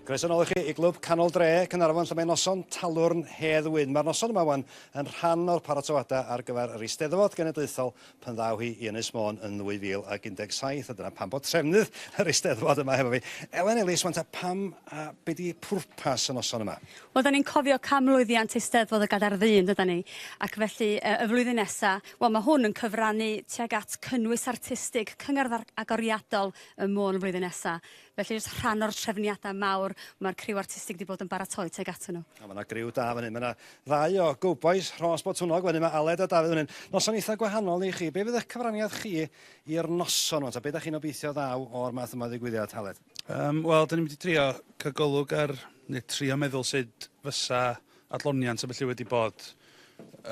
Croeso nôl i chi i Glwb Canol Dre, Caernarfon, lle mae noson talwrn Hedd Wyn. Mae'r noson yma wan yn rhan o'r paratoadau ar gyfer yr Eisteddfod Genedlaethol pan ddaw hi i Ynys Môn yn 2017, a dyna pam bod trefnydd yr Eisteddfod yma hefo fi. Elen Ellis, wan ta pam a be di pwrpas y noson yma? Wel, da ni'n cofio canmlwyddiant Eisteddfod y Gadair Ddu, yn dydan ni? Ac felly, y flwyddyn nesa, wel, mae hwn yn cyfrannu tuag at cynnwys artistig cyngerdd agoriadol ym Môn flwyddyn nesa. Felly jyst rhan o'r trefniadau mawr mae'r criw artistig wedi bod yn baratoi tuag atyn nhw. O, mae yna griw da fan hyn. Mae yna ddau o gowbois Rhos Botwnnog fan hyn. Mae Aled a Dafydd fan hyn. Noson eitha gwahanol i chi. Be fydd eich cyfraniad chi i'r noson yma? Ta be da chi'n obeithio ddaw o'r math yma o ddigwyddiad, Aled? Um, Wel, dyn ni'n mynd i drio cael golwg ar, neu trio meddwl sut fysa adloniant a felly wedi bod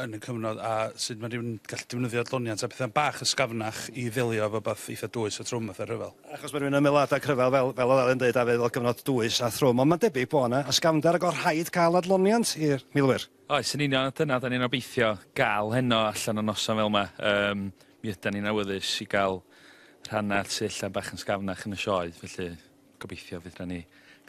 yn y cyfnod a sut mae rhywun gallu defnyddio adloniant a pethau'n bach ysgafnach i ddelio efo beth eitha dwys a trwm fatha rhyfel. Achos mae rhywun yn meddwl adeg rhyfel fel, fel oedd Alun dweud, a fel cyfnod dwys a thrwm, ond mae'n debyg bod yna ysgafnder ac oedd rhaid cael adloniant i'r milwyr. Oes, yn union, a dyna dan ni'n obeithio gael heno allan o noson fel yma. Yym, mi ydan ni'n awyddus i gael rhannau sy ella bach yn sgafnach yn y sioe, felly Gobeithio fydd na ni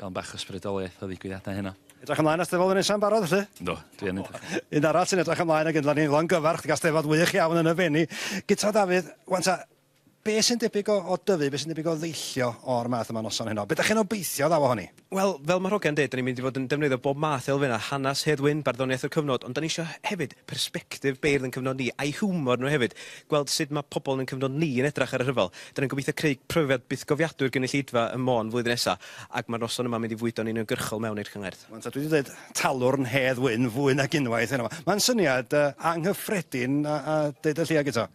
gael bach o sbrydoliaeth o ddigwyddiadau heno. Edrych ymlaen at Steddfod y Nesa'n barod felly? Yndw, dwi yn edrych. Un arall sy'n edrych ymlaen ag ynddo ni longyfarch gyda Steddfod wych iawn yn y Fenni. Guto Dafydd, wan ta, be sy'n debyg o, o dyfu, be sy'n debyg o ddeillio o'r math yma noson heno? Be da chi'n obeithio ddaw ohoni? Wel, fel mae Rhogen deud, da ni'n mynd i fod yn defnyddio bob math elfennau, hanes Hedd Wyn, barddoniaeth y cyfnod, ond da ni eisiau hefyd persbectif beirdd yn cyfnod ni, a'u hiwmor nhw hefyd, gweld sut mae pobl yn ein cyfnod ni yn edrach ar y rhyfel. Dan ni'n gobeithio creu profiad bythgofiadwy i'r gynulleidfa ym Môn flwyddyn nesa, ac mae'r noson yma'n mynd i fwydo'n uniongyrchol mewn i'r cyngerdd. Wan ta dwi 'di deud talwrn Hedd Wyn fwy nag unwaith heno 'ma. Mae'n syniad anghyffredin a a deud y lleia Guto.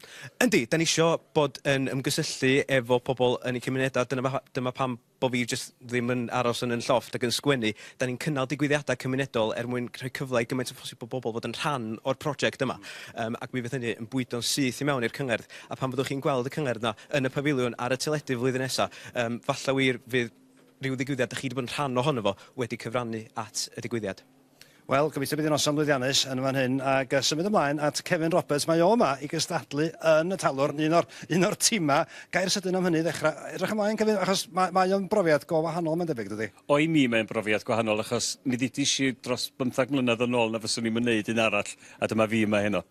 Yndi, dan ni isio bod yn ymgysylltu efo pobl yn eu cymunedau, dyna fa- dyma pam bo fi jyst ddim yn aros yn 'y llofft ac yn sgwennu, 'da ni'n cynnal digwyddiadau cymunedol er mwyn rhoi cyfle i gymaint â phosib o bobl fod yn rhan o'r project yma, yym, ac mi fydd hynny yn bwydo'n syth i mewn i'r cyngerdd, a phan fyddwch chi'n gweld y cyngerdd 'na yn y Pafiliwn ar y teledu flwyddyn nesa, yym, falla wir fydd rhyw ddigwyddiad 'da chi 'di bod yn rhan ohono fo wedi cyfrannu at y digwyddiad. Wel, gobeithio bydd hi'n noson lwyddiannus yn fan hyn, ac uh, symud ymlaen at Kevin Roberts. Mae o yma i gystadlu yn y talwrn, un o'r, un o'r timau. Gair sydyn am hynny ddechrau. Edrych ymlaen, Kevin, achos mae, mae o'n brofiad go wahanol, mae'n debyg, dydy? O, i mi mae'n brofiad gwahanol, achos mi ddidish i dros bymthag mlynedd yn ôl na fyswn i'n myneud un arall, a dyma fi yma heno.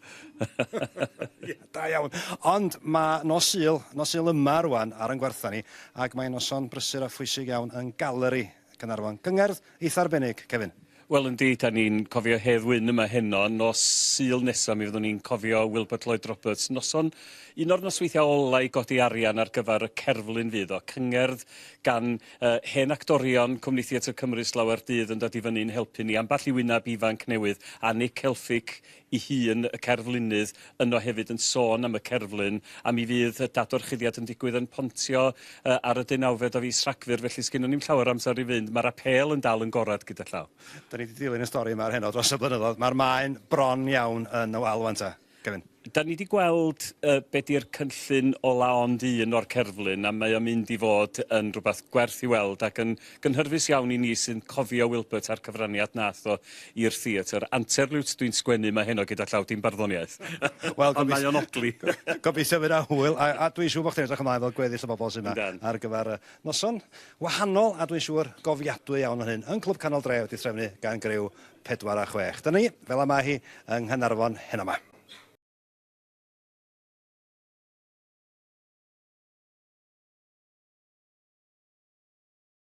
yeah, da iawn. Ond mae nos Sul, nos Sul yma rwan ar yn gwertha ni, ac mae'n noson brysur a phwysig iawn yn galeri Caernarfon. Cyngerdd eitha arbennig, Kevin. Wel yndi, dan ni'n cofio Hedd Wyn yma heno. Nos Sul nesa mi fyddwn ni'n cofio Wilbert Lloyd Roberts. Noson, un o'r nosweithiau ola i godi arian ar gyfer y cerflun fydd o. Cyngerdd gan uh, hen actorion Cwmni Theatr Cymru slawer dydd yn dod i fyny'n helpu ni. Ambell i wyneb ifanc newydd a Nick Helfig ei hun, y cerflunydd, yno hefyd yn sôn am y cerflun, a mi fydd y dadorchuddiad yn digwydd yn Pontio uh, ar y deunawfed o fis Rhagfyr, felly sgynnon ni'm llawer o amser i fynd. Mae'r apêl yn dal yn gorad gyda llaw. Da ni wedi dilyn y stori yma ar heno dros y blynyddoedd. Mae'r maen bron iawn yn y wal wan ta, Kevin. Da ni wedi gweld uh, be di'r cynllun o la ond un o'r cerflun a mae o'n mynd i fod yn rhywbeth gwerth i weld ac yn Gynhyrfus iawn i ni sy'n cofio Wilbert a'r cyfraniad nath o i'r theatr. Anterliwt dwi'n sgwennu mae heno gyda llaw dim barddoniaeth. Wel gobeith- Ond mae o'n odli. Gobeithio fydd 'na hwyl a a dwi'n siŵr bo' chdi'n edrych ymlaen fel gweddill y bobol sy' 'ma. Yndan. Ar gyfar y noson wahanol a dwi'n siŵr gofiadwy iawn o hyn yn Clwb Canol Dre wedi threfnu gan griw pedwar a chwech. Dyna ni, fel y mae hi yng Nghanarfon heno 'ma.